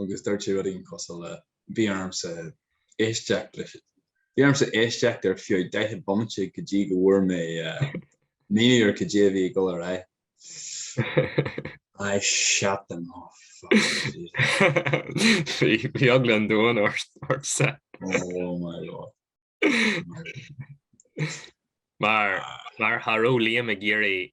agus dúirt sé rud éigin cosúil le Bhí ormsa éisteacht leis an. Bhí ormsa éisteacht ar feadh daichead bomaite go dtí go bhfuair mé an fhírinne cad é a bhí ag dul ar aghaidh. I shut them off. Bhí eagla an domhain ormsa. Oh my lord. Mar mar cha raibh Liam ag iarraidh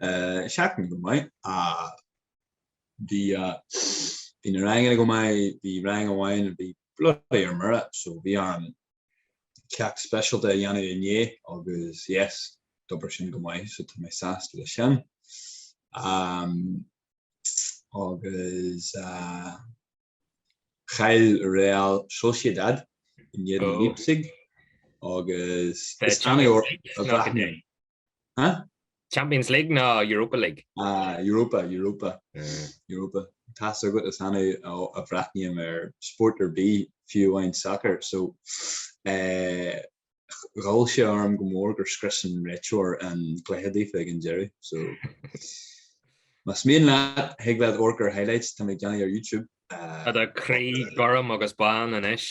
seachtain go maith bhí na ranganna go maith bhí rang amháin bhí bloody ar mire so bhí orm ceacht speisialta a dhéanamh inné agus yes d'obair sin go maith so tá mé sásta leis sin agus chaill Real Sociedad in éadan Leipzig agus is annamh a bhreathnaím Ha? Champions League nó Europa League? Ah, Europa, Europa. Eh. Europa. Tá a fhios agat is annamh a bhreathnaím ar spórt ar bith, fiú amháin sacar. So, eh, ghoill sé orm go mór gur scrios an réiteoir an cluiche daofa ag an deireadh. So, más mian leat, thig leat amharc ar highlights, tá mé ag déanamh ar YouTube. Eh, Tá do chroí gorm agus bán anois.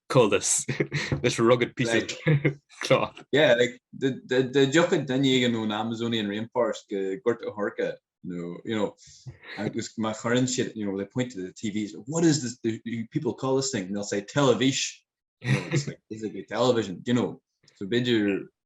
call this this rugged piece like, of cloth yeah like the the the joke dan you know an amazonian rainforest got a horka you know you know i just my current shit you know they point to the tvs what is this do people call this thing and they'll say television you know, it's like, it's like television you know so bid you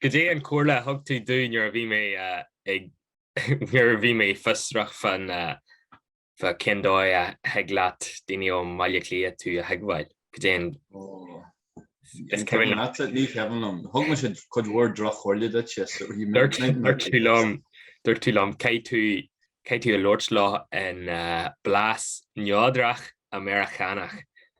Cad é an chomhairle a thug tú domh nuair a bhí mé ag, nuair a bhí mé fiosrach fan, fa cén dóigh a thig leat daoine ó Bhaile Átha Cliath tú a thuigbheáil? Cad é an. Is cuimhin leat? Ní cuimhin liom. Thug mé is dócha cuid mhór drochchomhairle duit is so he meant nothing. Dúirt tú liom, dúirt tú liom, caithfidh tú, caithfidh tú labhairt leo i mblas neodrach Meiriceánach.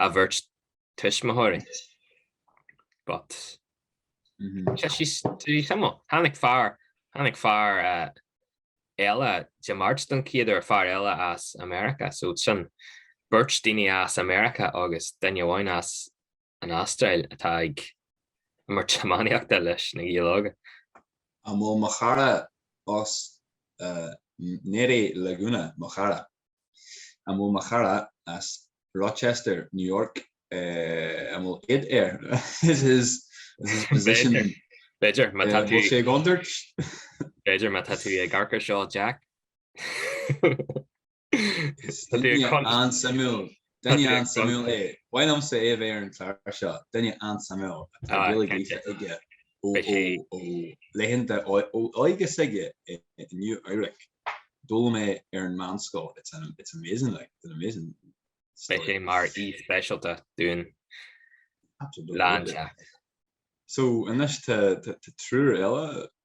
a bheirt tuismitheoirí but tháinig fear tháinig fear eile Dé Máirt don chéad uair fear eile as America so sin beirt daoine as America agus duine amháin as an Astráil atá ag imirt iománaíochta leis na Gaeil óga. An bhfuil mo chara as Nua-Eabhrac go fóill mo chara? An bhfuil mo chara as Rochester, New York, an bhfuil id air? Is his position B'fhéidir má tá tú ag iondirt. B'fhéidir má tá tú ag amharc ar seo Jack. Is an-suimiúil. Duine an-suimiúil é. Ba mhaith liomsa é a bheith ar an chlár seo. Duine an-suimiúil. Tá Gaeilge aige ó laethanta óige s'aige i Nua-Eabhrac. D'fhoghlaim sé ar an mheánscoil. It's an it's amazing like it's an amazing story. Beidh sé mar aoi speisialta dúinn lá éigin. So anois tá triúr eile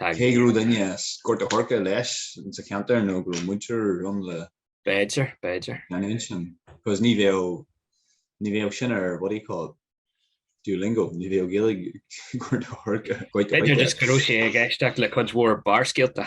Cé go raibh duine as Gort a' Choirce leis sa cheantar nó go raibh muintir ann leis. B'fhéidir, b'fhéidir. Ann sin, cos ní bheadh, ní bheadh sin ar what do you call it, Duolingo, ní bheadh Gaeilge Gort a' Choirce. B'fhéidir just go raibh sé ag éisteacht le cuid mhór Barrscéalta.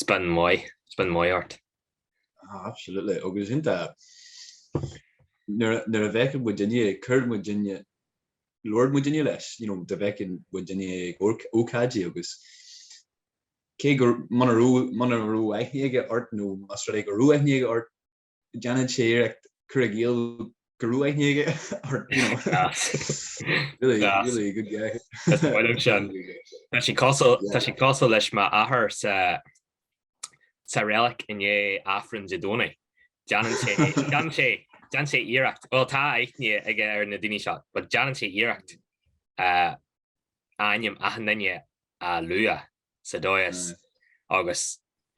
spin maith spin maith ort ah absolutely agus iontach nuair a fheiceann muid duine chuir muid duine labhair muid duine leis you know dá bhfeicfeadh muid duine ag ócáidí agus cé go muna raibh muna raibh aithne aige ort nó más rud é go raibh aithne aige ort Déanann sé iarracht cur i gcéill go raibh aithne aige ort you know really Gas. really good guy. Is mór liom sin. Tá sí cosúil Yeah. tá sí cosúil leis m'athair sa sa reilig inné Aifreann Dé Domhnaigh. Déanann sé déanann sé déanann sé iarracht. Well tá aithne aige ar na daoine seo, but déanann sé iarracht uh, ainm achan duine a lua sa dóigh is agus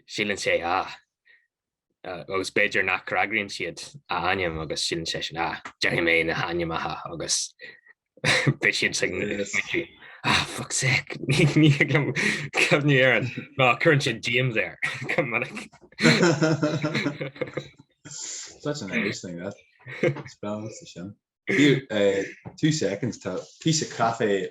síleann sé ah agus b'fhéidir nach bhfreagraíonn siad a ainm agus síleann sé sin ah déarfaidh mé na hainmneacha agus beidh siad ag muintir ah fuck's sake ní ní agam cad ní ar an ná cuireann siad díomá go minic. Such an Irish thing that. Spell sa sin. Here, uh, two seconds, tá píosa caife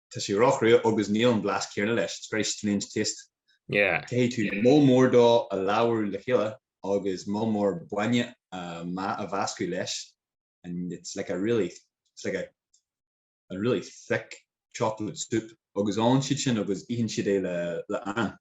Tá sé ró-chrua agus níl an blas céanna leis, it's very strange taste. Caithfidh tú moll mór dó a leá le chéile agus moll mór bainne a a mheascadh leis and it's like a really, it's like a a really thick chocolate soup. Agus ólann siad sin agus itheann siad é le an.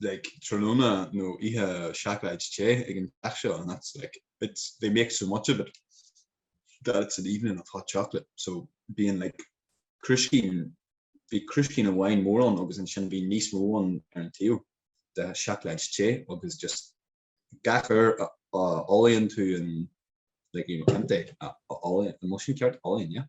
like tráthnóna nó oíche seacláid te ag an teach seo and that's like it's they make so much of it that it's an evening of hot chocolate so bíonn like crúiscín bhí crúiscín amháin mór ann agus ansin bhí níos mó ann ar an taobh de seacláid te agus just gach uair a fholmhaíonn tú an like you know an té a fholmhaíonn an bhfuil sin ceart? folmhaíonn yeah.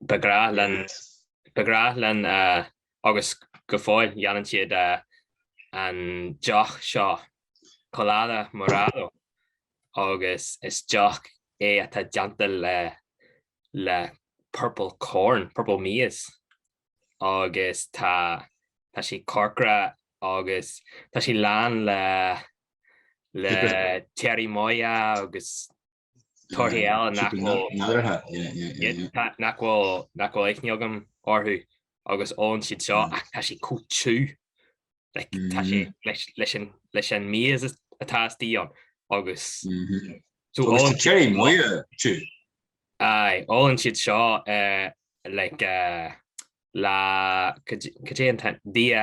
Ba ghrá linn ba ghrá linn uh, agus go fóill déanann siad uh, an deoch seo colada morada agus is deoch é atá déanta le le purple corn, purple maize agus tá tá sí corcra agus tá sí lán le le cherimoya agus torthaí eile nach bhfuil aithne agam orthu agus ólann siad seo ach tá sé chomh tiubh like tá sé leis an méid atá istigh ann agus tá cherimoya tiubh. Aye, ólann siad seo le, cad é an t-ainm, Día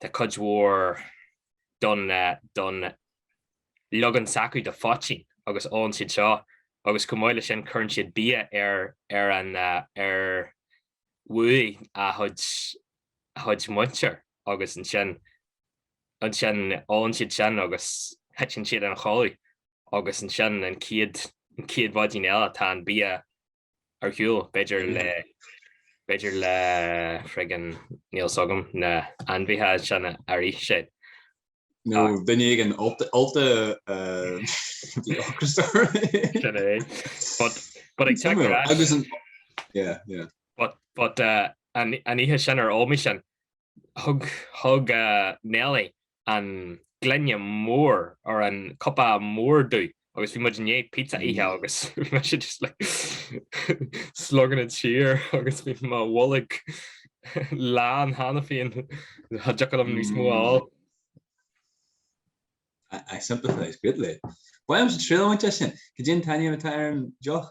Tá cuid mhór don don leagan s'acu de phoitín agus ólann siad seo agus chomh maith le sin cuireann siad bia ar uaigh a chuid a chuid muintir agus ansin ansin ólann siad sin agus titeann siad ina chodladh agus ansin an chéad an chéad mhaidin eile tá an bia ar shiúl, b'fhéidir le b'fhéidir le friggin níl 's agam na hainmhithe sin a airigh sé. nó duine éigin ólta atá ocras air. Sin é. But but ag teacht ar ais, yeah yeah but but an oíche sin ar ómaigh sin thug Nellie an gloine mór or an cupa mór domh agus bhí muid i ndiaidh pizza a ithe agus bhí mise just like slogging it siar agus bhí mo bholg lán cheana féin cha dtiocfadh liom níos mó a fháil. I sympathise greatly. Bheadh mise i dtrioblóid le sin. Cad é an t-ainm atá ar an deoch?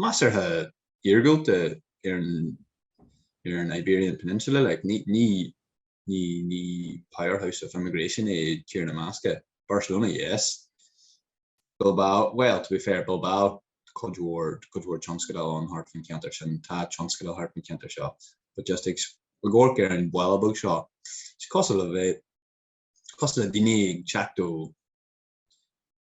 measartha iargúlta ar an Iberian Peninsula. Like, ní, ní, ní, ní powerhouse of immigration é Tír na mBascach. Barcelona, yes. Bilbao, well, to be fair, Bilbao, cuid mhór, cuid mhór tionscadail ann thart faoin cheantar sin, tá tionscadail thart faoin cheantar seo, but just ag amharc ar an bhaile beag seo, is cosúil le bheith, cosúil le daoine ag teacht ó,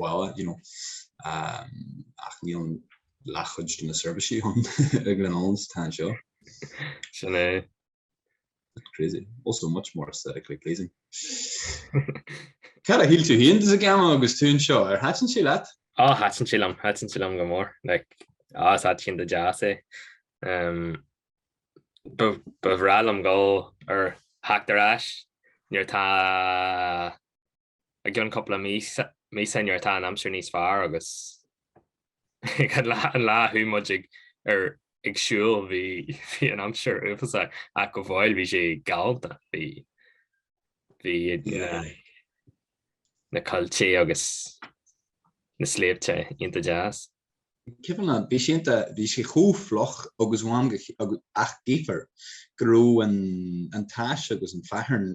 bhaile you know ach níl an leathchuid de na seirbhísí ann i Glenullin is atá anseo. Sin é. That's crazy. Also much more aesthetically pleasing. Cad a shíl tú féin de Zegama agus tú anseo? Ar thaitin sé leat? Á, thaitin sé liom, thaitin sé liom go mór. Like, á, is áit iontach deas é. Um, ba, ba bhreá liom gabháil ar theacht ar ais nuair tá I gcionn cúpla mí, míosa nuair atá an aimsir níos fearr agus ag an lá an lá a chuaigh muid ar ag siúl bhí bhí an aimsir uafásach ach go fóill bhí sé galánta bhí bhí na na coillte agus na sléibhte iontach deas. Cé fan an bhí sé iontach bhí sé chomh fliuch agus um ach tchífeá go raibh an an tais agus an fearthainn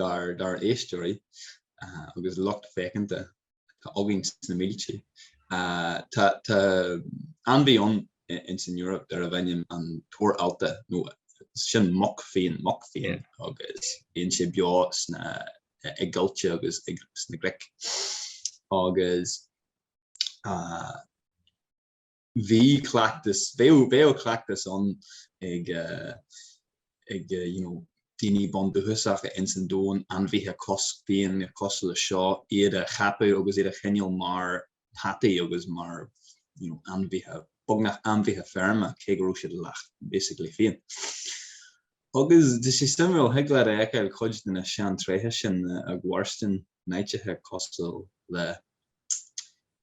dár n-éisteoirí agus lucht féachanta atá againn sna mílte. Tá ainmhí ann in san Eoraip darbh ainm an torc allta nó sin muc fiáin muc fiáin agus bíonn sé beo sna coillte agus sna cnoic agus bhí cleachtas, bheadh, bheadh cleachtas ann ag, ag, you know, daoine bundúchasacha ins an domhan, ainmhithe a cosc, fiáin cosúil leis seo, iad a cheapadh agus iad a choinneáil mar peataí agus mar, you know, ainmhithe, beagnach ainmhithe feirme, cé go raibh siad leath, basically, fiáin. Agus tá sé suimiúil, thig leat a fheiceáil cuid de na seantréithe sin ag mairstin in áiteacha cosúil le,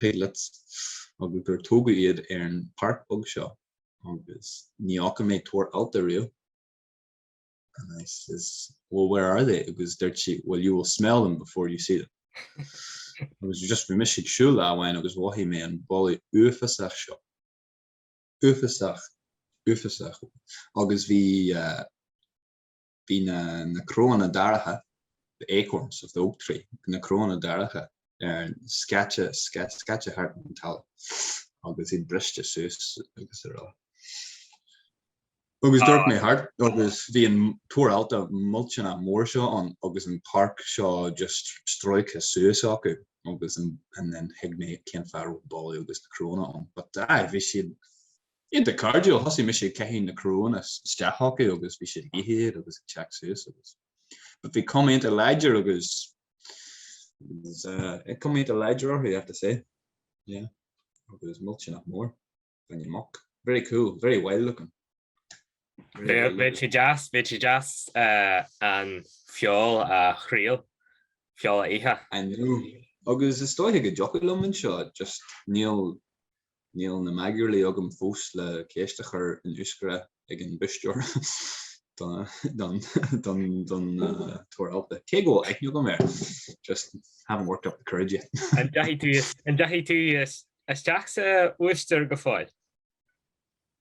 Piglets agus gur tógadh iad ar an bpáirc bog seo agus ní fhaca mé torc allta ariamh and I says well where are they agus dúirt sí well you will smell them before you see them agus just bhí mise ag siúl lá amháin agus mhothaigh mé an boladh uafásach seo. Uafásach. Uafásach. Agus bhí eh. Bhí na cnónna daracha, the acorns of the oak tree, bhí na cnónna daracha ar an scaipthe, scaipthe thart ar an talamh, agus iad briste suas agus ar a. Agus d'amharc mé thart agus bhí an torc allta millteanach mór seo ann agus an páirc seo just stróicthe suas acu agus and then thuig mé cén fáth a raibh an boladh agus na cnónna ann, but aye, bhí siad Iontach cairdiúil, thosaigh mise ag caitheamh na cnónna isteach acu agus bhí siad ag ithe iad agus ag teacht suas agus but bhí cuma iontach láidir agus bhí cuma iontach láidir orthu I have to say yeah agus millteanach mór an mhuc very cool very wild looking Bheadh sé deas, bheadh sé deas an feoil a thriail, feoil a ithe. I know, agus is dóiche go dtiocfadh liom anseo, just níl Níl na magairlí agam fós le ceist a chur in Euskara ag an búistéir don torc allta. Cé go bhfuil aithne agam air, just haven't worked up the courage yet. An deachaigh tú isteach chuig an bhúistéir go fóill?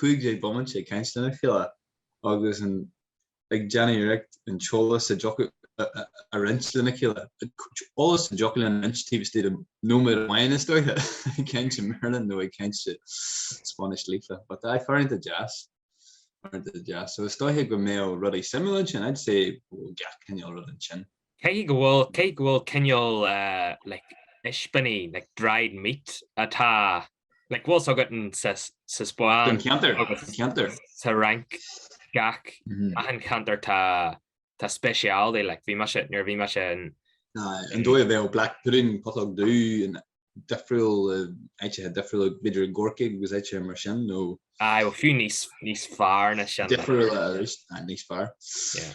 cúig déag bomainte ag caint lena chéile agus ag déanamh iarracht an t-eolas a dtiocfadh a roinnt lena chéile. Eolas a dtiocfadh linn a roinnt taobh istigh de nóiméad amháin is dóiche, ag caint i mBéarla nó ag caint i Spáinnis líofa. But aye, uaireanta deas. Uaireanta deas. So is dóiche go mbeadh rudaí suimiúil ansin. I'd say go bhfuil gach cineál rud ansin. Caithfidh go bhfuil, caithfidh go bhfuil cineál like ispíní, like dried meat atá, like bhfuil a fhios agat sa, sa Spáinn. Don cheantar, agus don cheantar. sa Fhrainc, gach, achan cheantar tá, tá speciality, like bhí mise, nuair a bhí mise in. Aye, an dóigh a bheadh black pudding, putóg dhubh, in difriúil, áiteacha difriúla, b'fhéidir i gCorcaigh agus áiteacha mar sin, nó. Aye, bhuel fiú níos, níos fearr na sin. Difriúla arís, aye, níos fearr. Yeah.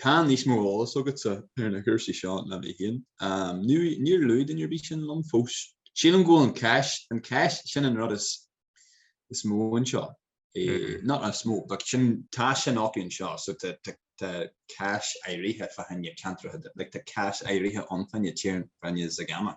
Tá níos mó eolas agatsa ar na cúrsaí seo ná mé féin. Níor luaigh duine ar bith sin liom fós. Sílim go bhfuil an cáis, an cáis, sin an rud is mó anseo, not is mó, but tá sin acu anseo, so tá cáis áirithe fá choinne ceantracha, like tá cáis áirithe ann fá choinne tír, fá choinne Zegama.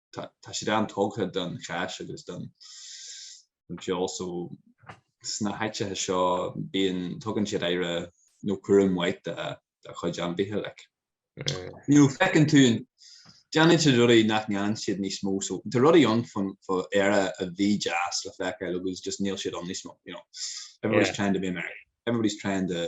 tá siad an-tógtha don cháis agus don cheol so sna háiteacha seo bíonn, tugann siad aire nó cúram mhaith do chuid ainmhithe like. Nó feiceann tú, déanann siad rudaí nach ndéanann siad níos mó so tá rudaí ann faraor a bhí deas le feiceáil agus just níl siad ann níos mó, you know, everybody's trying to be American, everybody's trying to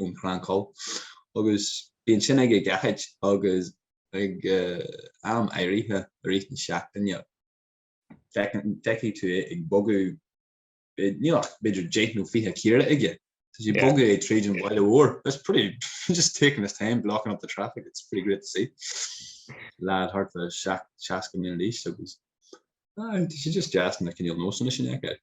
ón Crann Coll agus bíonn sin ag a gceachaid agus ag am áirithe i rith na seachtaine feicfidh tú é ag bogadh, níl ach b'fhéidir deich nó fiche caora aige, tá sé ag bogadh tríd an bhaile mhór, it's pretty, just taking his time blocking up the traffic, it's pretty great to see, lad thart fá seasca bliain d'aois agus, ah, tá sé just deas an cineál nósanna sin a fheiceáil.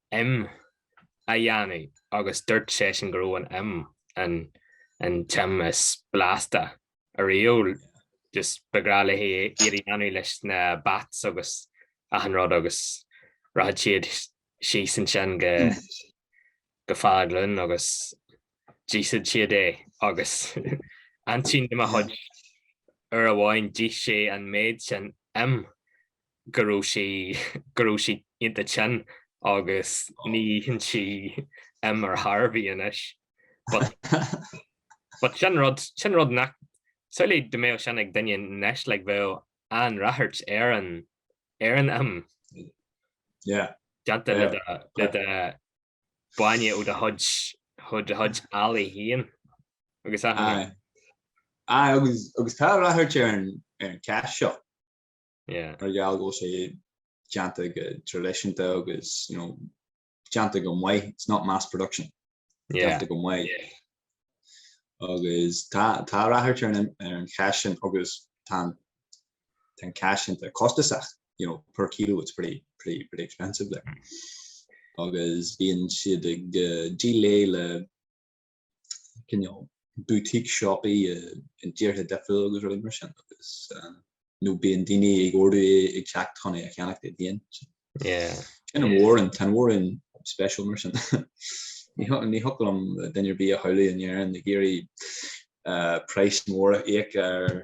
'Im' a dhéanamh agus dúirt seisean go raibh an 'im' an t-im is blasta ariamh, just ba ghnách léi iad a dhéanamh leis na bats agus achan rud agus rachadh siad síos ansin go Faglan agus d'íosfadh siad é agus aintín de mo chuid uair amháin d'ith sí an méid sin 'im' go raibh sí go raibh sí iontach tinn agus ní itheann sí im ar chor ar bith anois but but sin rud sin rud nach samhlaigh dá mbeadh sin ag duine anois like bheadh an-ráchairt ar an ar an im yeah déanta le do le do bainne ó do chuid ó do chuid eallaigh féin agus aye aye agus agus tá ráchairt ar an ar an cáis seo. mar gheall go bhfuil sé déanta go traidisiúnta agus you know déanta go maith, it's not mass production, déanta go maith agus tá ráchairt ar an cháis sin agus tá an cáis iontach costasach, you know per kilo it's pretty, pretty, pretty expensive like agus bíonn siad ag díol é le cineál boutique siopaí i dtíortha difriúla agus rudaí mar sin agus nó bíonn daoine ag ordú ag teacht chun é a cheannach iad féin. Sin an mhórán, tá an mhórán special mar sin. Ní thiocfadh liom duine ar bith a shamhlú in Éirinn ag iarraidh price mór a íoc ar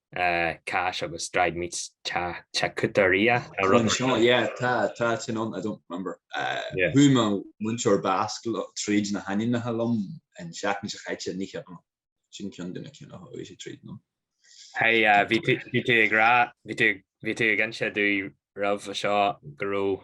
cáis agus dried meats, charcutería. Yeah, tá sin an, I don't remember. Chuaigh mo mhúinteoir Bascaise tríd na hainmneacha liom an tseachtain seo caite, ní cheapaim ach sin ceann de na cinn a thóg sé tríd liom. Bhí tú ag rá, bhí tú ag inse dúinn roimhe seo go raibh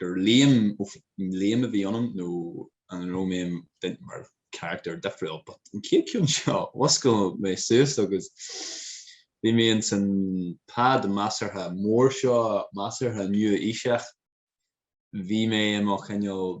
gur Liam Liam a bhí ionam nó an raibh mé, dunno, mar character difriúil but an chéad ceann seo mhúscail mé suas agus bhí mé insan pad measartha mór seo measartha nua-aoiseach bhí mé i mo chineál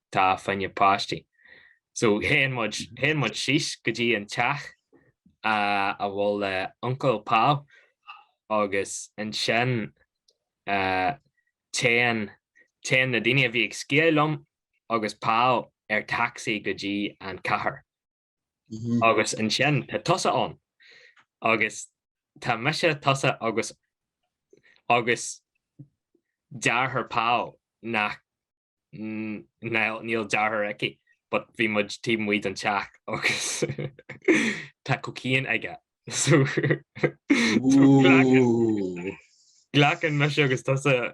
tá faoi na páistí so théann muid, téann muid síos go dtí an teach a bhfuil uncail Paul agus ansin téann, téann na daoine a bhí ag sciáil liom agus Paul ar taxi go dtí an chathair. agus ansin tá tusa ann agus tá mise, tusa agus agus deartháir Paul nach níl deartháir aici but bhí muid taobh amuigh den teach agus tá cocaine aige so glacann mise agus tusa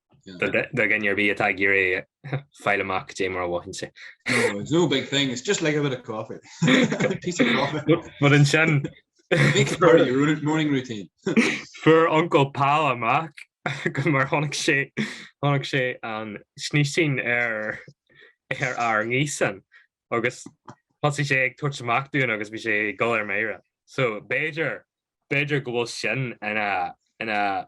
B'fhéidir go mbíonn tú ag iarraidh fáil amach cad é mar a mhothaíonn sé. It's no big thing, it's just like a bit of coffee. Piece of coffee. But ansin... Make it part of your morning routine. Fuair Uncail Paul amach go mar tháinig sé tháinig sé an snísín ar ar ár ngaosán agus thosaigh sé ag tabhairt amach dúinn agus bhí sé ag dul ar mire. So b'fhéidir b'fhéidir go bhfuil sin ina ina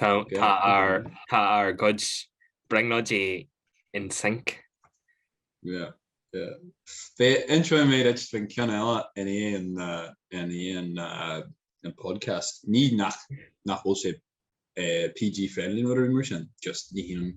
Tá ár gcuid brionglóidí in sync. Yeah, yeah. Ní inseoidh mé duit an ceann eile in aon podcast. Ní nach bhfuil sé PG-friendly nó rud mar sin, just ní hionann.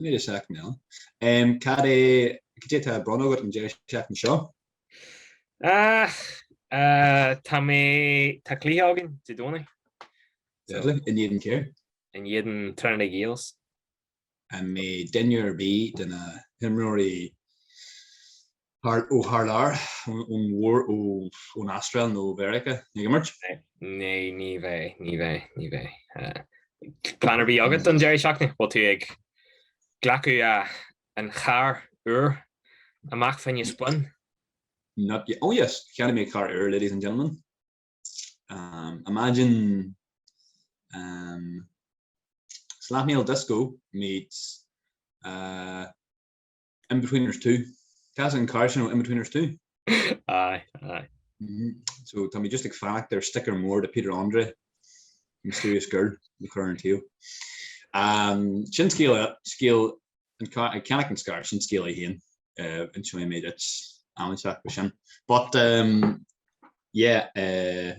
seachtain eile. Cad é, cad é atá ar bun agat an deireadh seachtaine seo? Ach, tá mé, tá cluiche againn Dé Domhnaigh. Deadly, in éadan céir? In éadan Trinity Gaels. An mbeidh duine ar bith de na himreoirí Ó tharlár ón mhór ón Astráil nó ó Mheiriceá ag imirt? Naoi, ní bheidh, ní bheidh, ní bheidh. Plean ar bith agat don deireadh seachtaine? Bhfuil tú ag glacadh an chairr úr amach fá choinne spin? Not yet, oh yes, cheannaigh mé carr úr ladies and gentlemen. Imagine slathmail disco meets Inbetweeners two. Tá fhios agat an carr sin ó Inbetweeners two. Aye, aye. Mm-hmm. So tá mé just ag fanacht ar sticker mór de Peter Andre, Mysterious Girl, le cur ar an taobh. Um, sin scéal scéal an ceannach an charr sin scéal ann féin uh, inseoidh mé duit am inteacht faoi sin. But um, yeah, uh,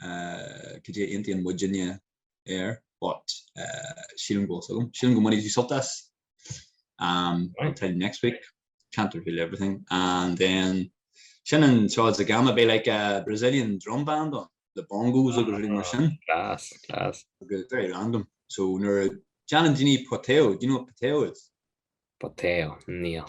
cad é an t-ainm a thug mé air but sílim go bhfuil fhios agam. Sílim go mbainfidh tú sult as. Um, I'll tell you next week. Can't reveal everything. And then sin an Seo is a Gama beidh like a Brazilian drum band on le bongos agus rud mar sin. Class, class. Agus very random. So nuair a déanann daoine poteo, do you know what poteo is? Poteo, níl.